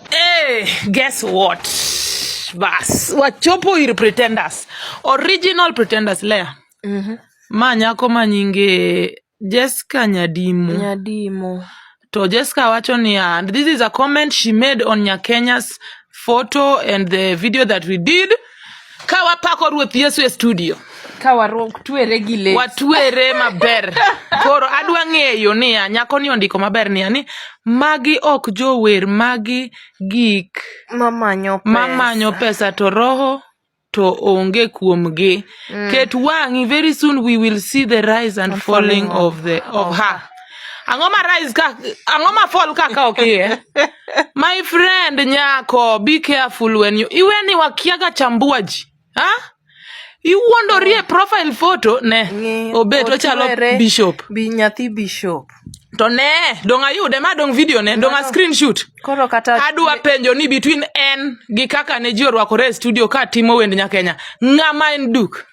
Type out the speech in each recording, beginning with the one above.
Hey, guess what? Bas, wachopo ir pretenders. Original pretenders Lea. Mm -hmm. Ma nyako ma nyinge Jessica Nyadimo. Nyadimo. To Jessica wacho niya, this is a comment she made on Nyakenya's photo and the video that we did. ka wapako ruoth yesu e studio ka watwere gi le watwere maber koro adwa ng'eyo niya nyako ni ondiko maber niya ni magi ok jower magi gik mamanyo pesa. mamanyo pesa to roho to onge kuomgi mm. ket wang'i very soon we will see the rise and falling of the of her Ang'o ma rise ka ang'o ma fall ka ka ok iye? My friend nyako, be careful when you iwe ni wakiaga chambua ji. Ha? Iwuondori e profile photo ne Ng'i obet ochalo otwere bishop. bi nyathi bishop. To ne, dong ayude ma dong video ne, dong a Mano- screenshot. Koro kata Adwa penjo ni between en gi kaka ne ji orwakore e studio ka timo wend Nyakenya, ng'ama en duk?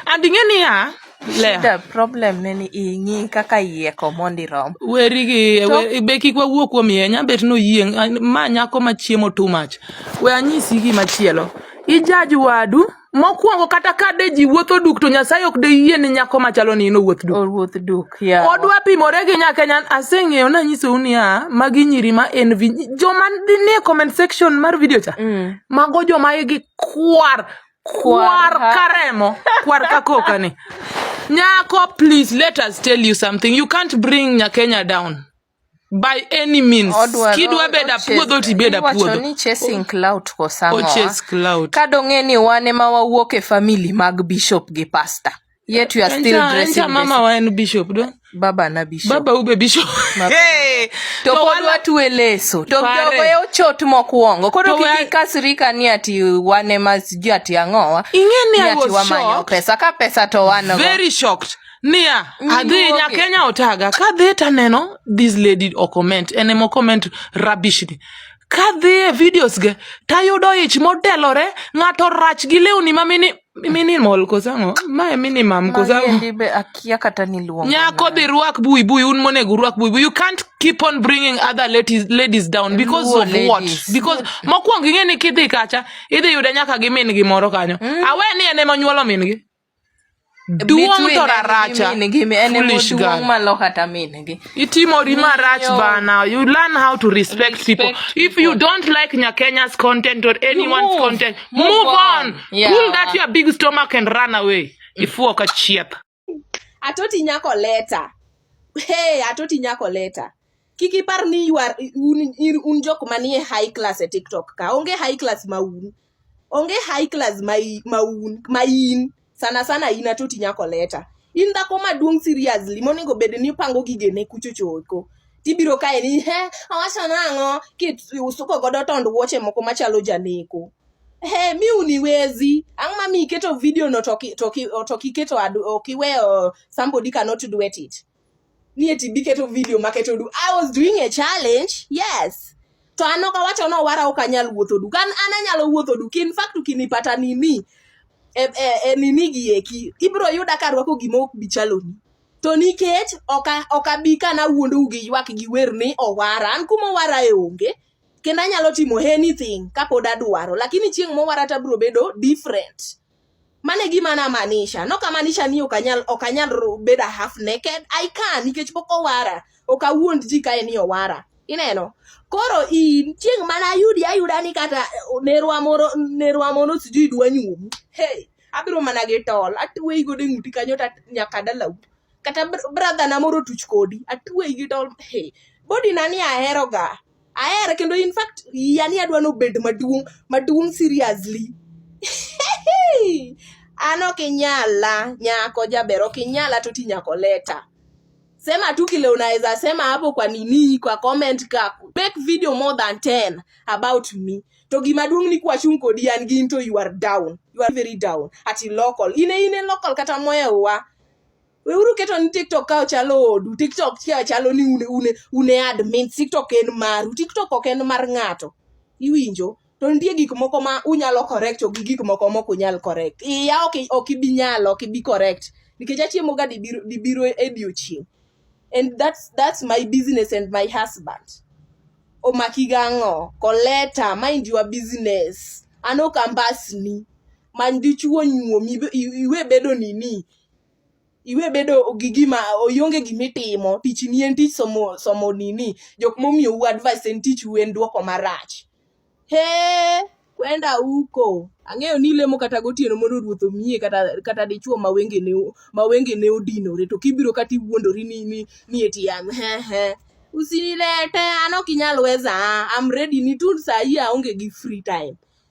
and ing'e niya Lea, The problem ne ni ing'i kaka yieko mondi rom. weri gi To- we- be kik wawuo kuom yie nyabet noyieng an- ma nyako ma chiemo too much we anyisi gimachielo ijaji wadu mokwongo kata ka de ji wuotho duk to nyasaye ok de yie ni nyako machalo ni in owuoth duk Owuoth duk ya. odwa pimore gi nyakenyan aseng'eyo nanyisou niya magi nyiri ma en vi joma dhi nie comment section mar video cha Mm. mago joma igi kwar kwar ka remo kwar ka koka ni nyako please let us tell you something you can't bring nyakenya down by any means Odwaro- kidwa beda ochase- puodho tibeda iwacho puodho ni chasing clout ko sang'owa. ochase cloud ka dong'e ni wan ema wawuok e famili mag bishop gi pasta yet you are still Encha- dressing encha mama this- wa en bishop do baba na bishop baba ube bishop Mama. Hey! to pod wala- watue leso to Pare. jogo e ochot mokwongo koro To kik wa- ikasrika ni ati wan ema sijui ati ang'owa Ing'e ni I ati was wamanyo shocked. pesa ka pesa to wan go very shocked niya adhi Niwuoge. nyakenya otaga kadhi taneno this lady ocomment en ema ocomment rubbish ni kadhi e videos ge tayudo ich modelore ng'ato rach gi lewni mamini minimal kosango mae minimum kosango akia kata niluongo nyako dhi rwak bui bui un monego urwak bui bui you can't keep on bringing other ladies, ladies down because Luo of ladies. what because mokwongo ing'e ni kidhi kacha idhi yude nyaka gi min gi moro kanyo mm. awe ni en ema nyuolo min gi duong' to raracha foolish girl Itimori marach Miyo. bana. You learn how to respect, people. Respect If you don't like Nyakenya's content or anyone's move. content, move, Move on. on. Yeah. Pull that your big stomach and run away. Ifuo ka chieth. atoti nyako leta hey atoti nyako leta kik ipar ni you are- un, in- un jok manie high class e tiktok ka onge high class ma un onge high class ma i- ma un ma in sana sana in atoti nyako leta in dhako maduong' seriously monego bed ni pango gigene kuchochoko tibiro kae ni he awacho nang'o kisuko godo tond wuoche moko machalo janeko he mi uniwezi ang' ma mi iketo video no to ki- to ki- to kiketo ad- ok iweyo somebody cannot duet it ni eti biketo video maketo du i was doing a challenge yes to an ok awacho ni owara ok anyal wuotho du kan an anyalo wuotho du kin fact ukinipata nini e, e, e nini gi eki ibro yuda ka rwako gima ok bi chaloni to nikech ok abi ka nawuondou gi ywak gi wer ni owara an kuma owara e onge kendo anyalo timo anything kapod adwaro lakini chieng' mowara tabro bedo different mano e gima namaanisha nokamaanisha ni okanyal okanyal bedo half naked i can nikech pok owara ok awuond ji kae ni owara ineno koro in chieng' mana ayudi ayuda ni kata nerwa moro nerwa mono sijui dwa nyuomu hey abiro mana gi tol atweyi godo e ng'uti kanyo ta nyaka dalau kata brother na moro tuch kodi atweyi gi tol hey body na ni aheroga ahere kendo in fact yani adwa ni obed maduong' maduong' seriously an ok inyala nyako jaber ok inyala to ti nyako leta sema tu kile unaweza sema hapo kwa nini kwa comment kako make video more than 10 about me to gima duong ni kwachung kodi an gin to you are down you are very down ati local ine ine local kata moya uwa Weuru keto ni TikTok ka chalo odu. TikTok ka chalo ni une une une admin. TikTok en maru. TikTok ok en mar ng'ato. Iwinjo? To nitie gik moko ma unyalo correct to gi gik moko mok unyal correct. Iya ok ok ibi nyalo, ok ibi correct. Nikech achiemo ga dibiro dibiro e diochieng'. And that's that's my business and my husband. Omaki gang'o? Koleta, mind your business. An ok ambasni. Many dichuo nyuomi iwe bedo nini. iwe bedo gi gima ionge gima itimo tich ni en tich somo somo nini jok momiyo u advice en tich u en duoko marach he kwenda uko ang'eyo ni ilemo kata gotieno mondo ruoth omiye kata kata dichuo ma wenge ne ma wenge ne odinore to kibiro kata iwuondori ni ni ni eti an he he usinilete an ok inyal weza I'm ready ni tu saa hii aonge gi free time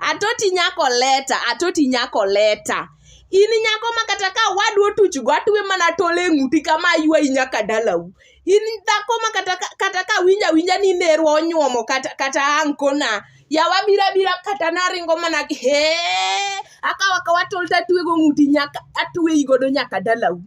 atoti nyako leta atoti nyako leta in nyako ma kata ka wadu otuchgo atwe mana tol e ng'uti kama aywayi nyaka dalau in dhako ma kata ka- kata ka winja winja ni nerwa onyuomo kata, kata ankona yawa bira bira kata naringo mana he akawa kawa tol tatwego ng'uti nyaka atweyi godo nyaka dalau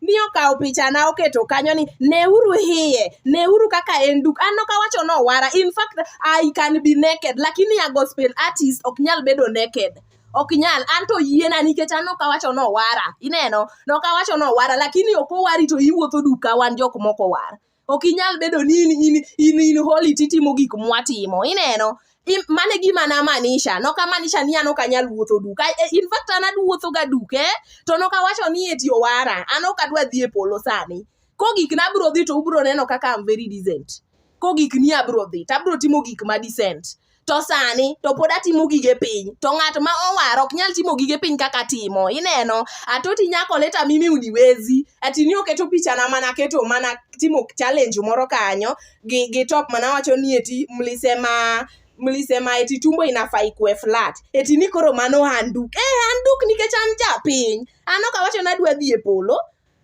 mi okawo pichana oketo kanyo ni neuru hiye neuru kaka en duk an ok awacho ni owara in fact I can be naked lakini a gospel artist ok nyal bedo naked ok nyal an to yiena nikech an ok awacho ni owara ineno ne ok awacho ni owara lakini ok owari to iwuotho duka wan jok moko owar ok inyal bedo ni in in in, in holy titimo gik mwatimo ineno Im- mane gima namanisha nokamanisha ni an ok anyal wuotho duka E- in fact an aduwuotho ga duke to nokawacho ni eti owara an ok adwa dhi e polo sani kogik na abro dhi to ubro neno kaka am very decent kogik ni abro dhi to abro timo gik ma decent to sani to pod atimo gige piny to ng'at ma owar ok nyal timo gige piny kaka atimo ineno atoti nyako leta mimi uniwezi ati ni oketo pichana mana keto mana timo challenge moro kanyo gi, gi top mana wacho ni eti mlisema mlisema eti tumbo inafaa ikue flat eti ni koro mano handuk eh handuk nikech an japiny an ok awacho ni adwa dhi e polo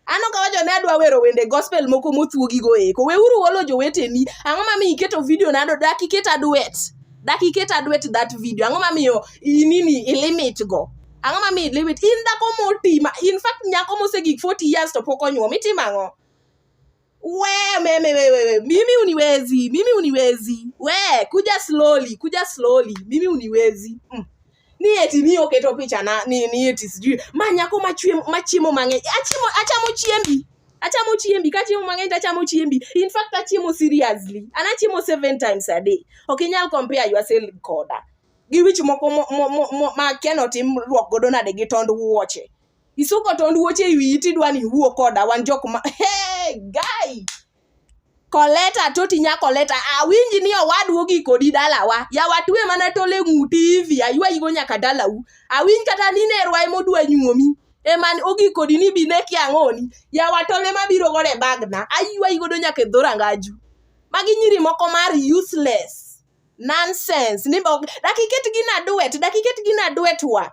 Ano ka wacho ne adwa wero wende gospel moko mothuogi go eko. Weuru wolo joweteni. Ang'o ma mi iketo video nado dak iket aduet. Dak iket aduet that video. Ang'o ma miyo inini ilimit go. Ang'o ma miyo ilimit. In dhako motima. In fact nyako mosegik 40 years to pok onyuom. Itimo ang'o? we meme wewe, mimi uniwezi, mimi uniwezi, we kuja slowly, kuja slowly, mimi uniwezi mm. ni eti ni oketo picha na ni ni eti sijui manyako machwe machimo mange achimo achamo chiembi achamo chiembi kachimo mang'eny tachamo chiembi in fact achimo seriously an achimo seven times a day ok inyal compare yourself koda gi wich moko ma akia notim rwak godo nade gi tond wuoche isuko tond wuoche e wiyi tidwa ni iwuo koda wan jok ma hey, guy koleta toti nya koleta awinji ni owadu ogi kodi dalawa yawa twe mana tole ng'uti hivi aywayigo nyaka dalau awinj kata ni nerwa emodwa nyuomi eman ogi kodi ni bi ne kiang'oni yawa tole mabiro godo e bagna aywayigodo nyaka e dho rangaju magi nyiri moko mar useless nonsense ni dakiket gina duet dakiket gina duet wa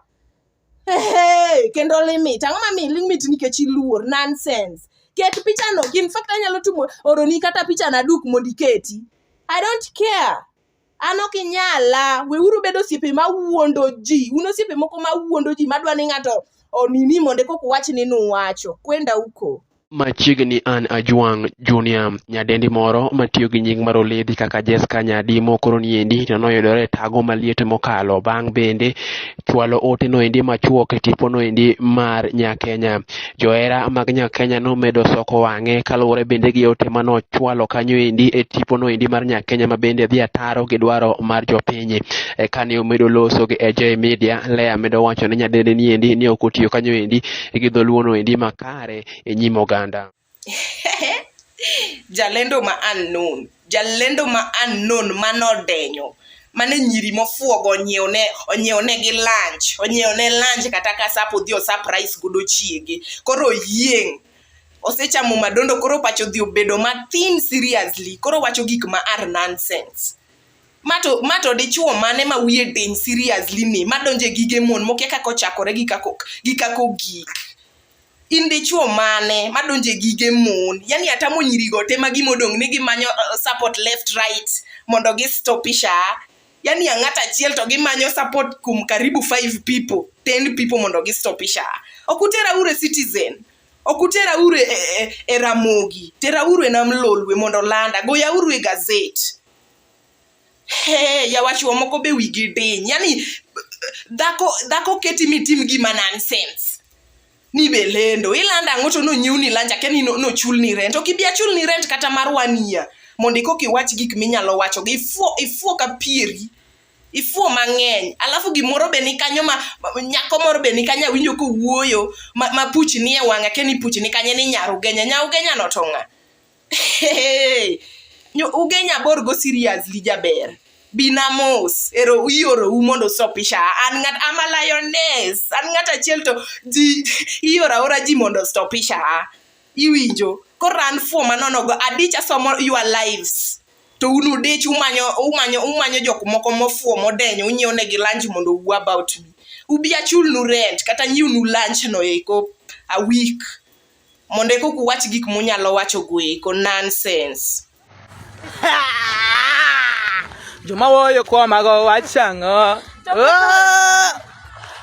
Hey, kendo limit ang'o ma mi limit nikech iluor nonsense ket pichano in fact anyalo timo oroni kata pichana duk mondo iketi i don't care an ok inyala weuru bedo osiepe ma wuondo ji un osiepe moko ma wuondo ji madwa ni ng'ato onini mondo kok uwach ni nuwacho kwenda uko Machiegni an Ajwang' Junior, nyadendi moro matiyo gi nying mar Oledhi kaka Jesca Nyadimo koro niendi to noyudore e tago maliet mokalo bang' bende chwalo ote noendi machuok e tipo noendi mar Nyakenya. Johera mag Nyakenya nomedo soko wang'e kaluwore bende gi ote manochwalo kanyo endi e tipo noendi mar Nyakenya ma bende dhi ataro gi dwaro mar jopiny. E kane omedo loso gi AJ Media, Lea medo wacho ni nyadendi niendi ni ok otiyo kanyo endi gi dholuo noendi makare kare e nyim oganda. Jalendo ma unknown, jalendo ma unknown manodenyo mane nyiri mofuogo onyiewne onyiewonegi lunch onyiewone lunch kata ka sap odhi osaprais godo chiege koro yieng' osechamo madondo koro pacho odhi obedo mathin seriously koro wacho gik ma are nonsense mato mato dichuo mane ma wiye diny seriously ni madonje gige mon mokia kaka ochakore gi kako gi kako gik in dichuo mane madonje gige mon yani atamo nyirigo te ma gimodong ni gimanyo uh, support left right mondo gistopisha yani ang'at achiel to gimanyo support kum karibu five people ten people mondo gistopisha ok utera ure citizen ok utera ure e, e, e ramogi tera ure nam lolwe mondo landa goya ure gazet Hey, yawachuo moko be wigi diny yani dhako dhako keti mitim gima nonsense ni be lendo ilando ang'o to nonyiw ni lanja ke ni nochul ni rent ok ibi achul ni rent kata mar one year mondo ikoka iwach gik minyalo wachogo ifuo ifuo ka pieri ifuo mang'eny alafu gimoro be ni kanyo ma nyako moro be ni kanyo awinjo kowuoyo ma, ma puch nie wang'a ke ni puch ni kanye ni nyarugenya nyarugenya notong'a uge nyabor go seriously jaber binamos ero ioro u mondo stopisha an ngat ama lioness an ngat achiel to ji ioro aora ji mondo stopisha iwinjo koro an fuo manonogo adich asomo your lives to un udich umanyo umanyo umanyo jok moko mofuo modenyo unyiew negi lunch mondo uwu about me ubi achulnu rent kata nyiwnu lunch no eko a week Mondo eka ok uwach gik munyalo wacho goeko nonsense. Joma woyo kuomago wachang'o? Oh!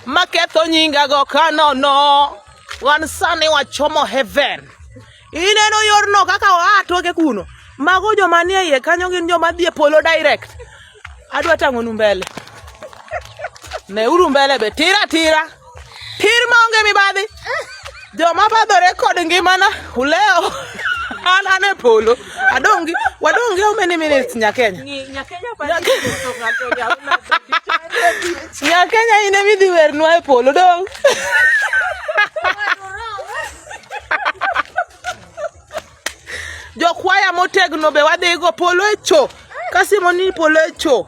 Maketho nyingago kanono. Wan sani wachomo heaven. Ineno yorno kaka oa toke kuno. Mago joma nie iye kanyo gin joma dhi e polo direct. Adwa tang'onu mbele. Neuru mbele be tira tira. Tir maonge mibadhi. Joma badhore kod ngimana uleo. An an e polo. Adongi, wadongi how many minutes Nyakenya? Nyakenya pa. Nyakenya ine midhi wernwa e polo dong. Jokwaya motegno be wadhi go polo e cho. Kasimo ni polo e cho.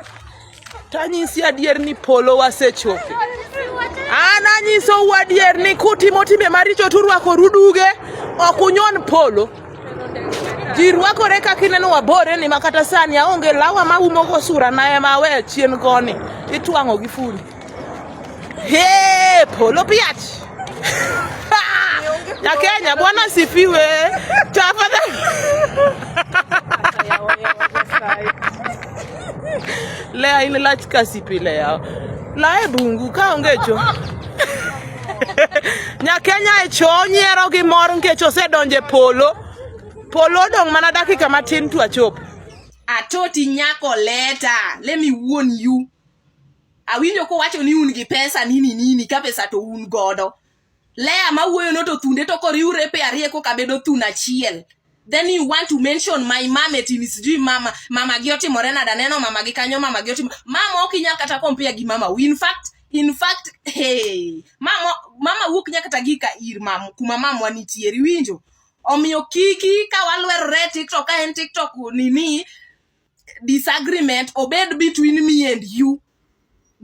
Tanyisi adier ni polo wasechopo. An anyisou adier ni kutimo timbe maricho turwako ruduge ok unyon polo. Ji rwakore kaka ineno wabore ni makata sani aonge lawa maumogo sura na ema awe chien koni itwang'o gi fundi. Hey, polo piach ya Kenya, Bwana sifiwe tafadhali. Lea ile lach kasipi lea lae bungu kaonge cho Nyakenya e cho nyiero gi mor nikech osedonje polo polo odong' mana dakika matin to achop atoti nyako leta let me warn you Awinjo kowacho ni un gi pesa nini nini ka pesa to un godo. Lea ma wuoyo no to thunde to koriure pe ariye koka bedo thun achiel. Then you want to mention my mama eti ni sijui mama mama gi otimore nada neno mama gi kanyo mama gi otimo mama ok inyal kata compare gi mama in fact in fact hey mama mama wuok nyaka kata gi ka ir mama kuma mamwa nitie riwinjo omiyo kiki ka walwerore tiktok ka en tiktok nini disagreement obed between me and you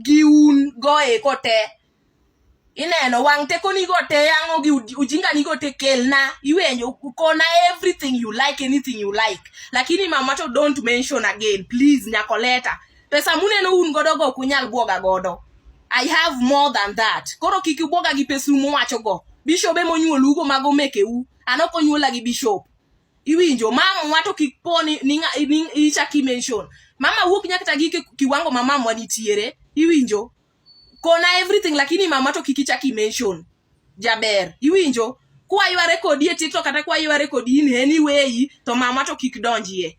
gi un goeko te ineno wang' tekonigo te yang'o gi ujinganigo te kelna iwenjo kona everything you like anything you like lakini mama to don't mention again please nyakoleta pesa muneno un godo go ok unyal bwoga godo i have more than that koro kik ubwoga gi pesu muwacho go bishobe monyuolugo mago mekeu an ok onyuola gi bishop iwinjo mamwa to kik po ni ichak imention mama wuok nya kata gi kiwango ma mamwa nitiere iwinjo kona everything lakini mama to kik ichak imention jaber iwinjo kwayware kodi e tiktok kata kwayware kodi in anyway to mama to kik donjie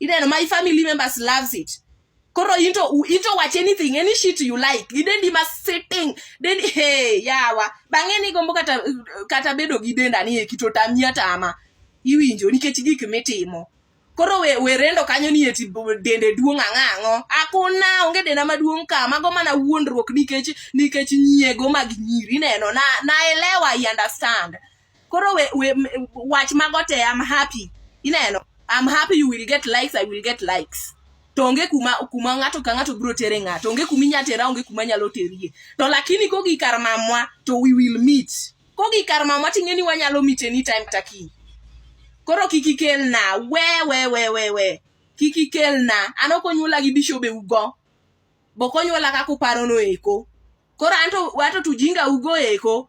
Ineno my family members loves it. Koro into into watch anything any shit you like. Idendi ma sitting. Then hey yawa. Bang'e ni gombo kata kata bedo gi denda ni ekito tamia tama. Iwinjo nikech gik mitimo. Koro we, we rendo kanyo ni eti dende duong' ang'ang'o. Akuna onge denda maduong' ka mago mana wuondruok nikech nikech nyiego mag nyiri neno na naelewa I understand. koro we, we, wach mago te am happy ineno am happy you will get likes i will get likes to onge kuma kuma ng'ato ka ng'ato biro tere ng'ato onge kuma inya tera onge kuma nyalo terie to lakini kogi kar mamwa to we will meet kogi kar mamwa ting'e ni wanyalo meet anytime kata kiny koro kik ikelna we we we we we kik ikelna an ok onyuola gi bishobe ugo bok onyuola kaka uparono eko koro anto wato tujinga ugo eko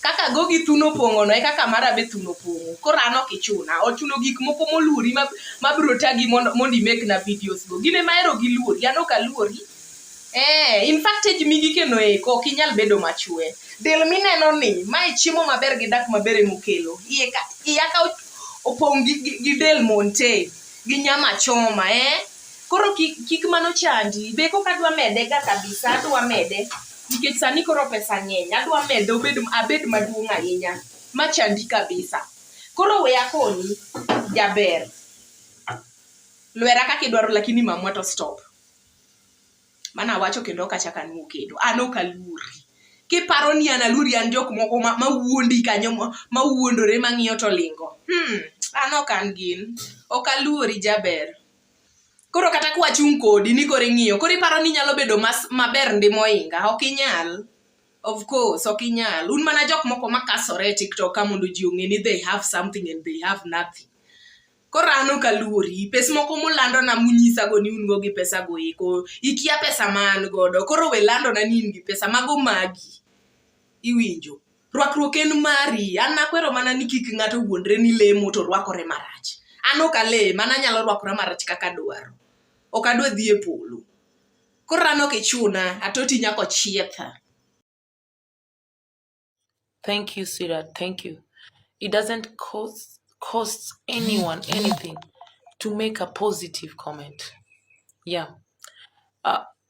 Kaka gogi thuno pong'ono e kaka mara be thuno pong'o. Koro an ok ichuna. Ochuno gik moko moluori ma, ma biro tagi mondo, mondo imekna videos go. Gin ema ahero gi luori. An ok aluori. Eh, in fact age migi keno eko ok inyal bedo machwe. Del mineno ni, mae chiemo maber gi dak maber ema okelo. Iye ka, iya ka opong' gi, gi, gi del monte, gi nyama choma, eh. Koro kik, kik mano chandi. Be kok adwa mede ga kabisa, adwa mede. nikech sani koro pesa ng'eny adwa mede obed abed maduong' ahinya machandi kabisa koro we akoni jaber lwera kaka idwaro lakini mamwa to stop mano awacho kendo ok achak anwo kendo an ok aluori kiparo ni an aluori an jok moko mawuondi kanyo mawuondore mang'iyo to lingo hmm, an ok an gin ok aluori jaber koro kata kwachung' kodi ni koro ing'iyo koro iparo ni nyalo bedo mas maber ndi moinga ok inyal of course ok inyal un mana jok moko makasore e tiktok ka mondo ji ong'e ni they have something and they have nothing koro an ok aluori pes moko mulandona munyisago ni un go gi pesa go eko ikia pesa ma an godo koro we landona ni in gi pesa mago magi iwinjo Rwakruok en mari. An akwero mana ni kik ng'ato wuondre ni lemo to rwakore marach. An ok alem, an anyalo rwakora marach kaka adwaro. Ok adwa dhi e polo. Koro an ok ichuna, atoti nyaka ochietha. Thank you, sweetheart. Thank you. It doesn't cost cost anyone anything to make a positive comment. Yeah. Uh,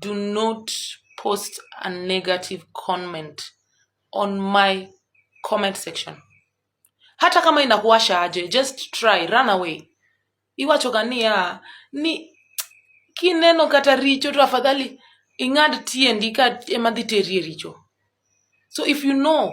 do not post a negative comment on my comment section hata kama inakuwasha aje just try run away iwachoga niya ni kineno kata richo to afadhali ing'ad tiendi ka ema dhi teri e richo so if you know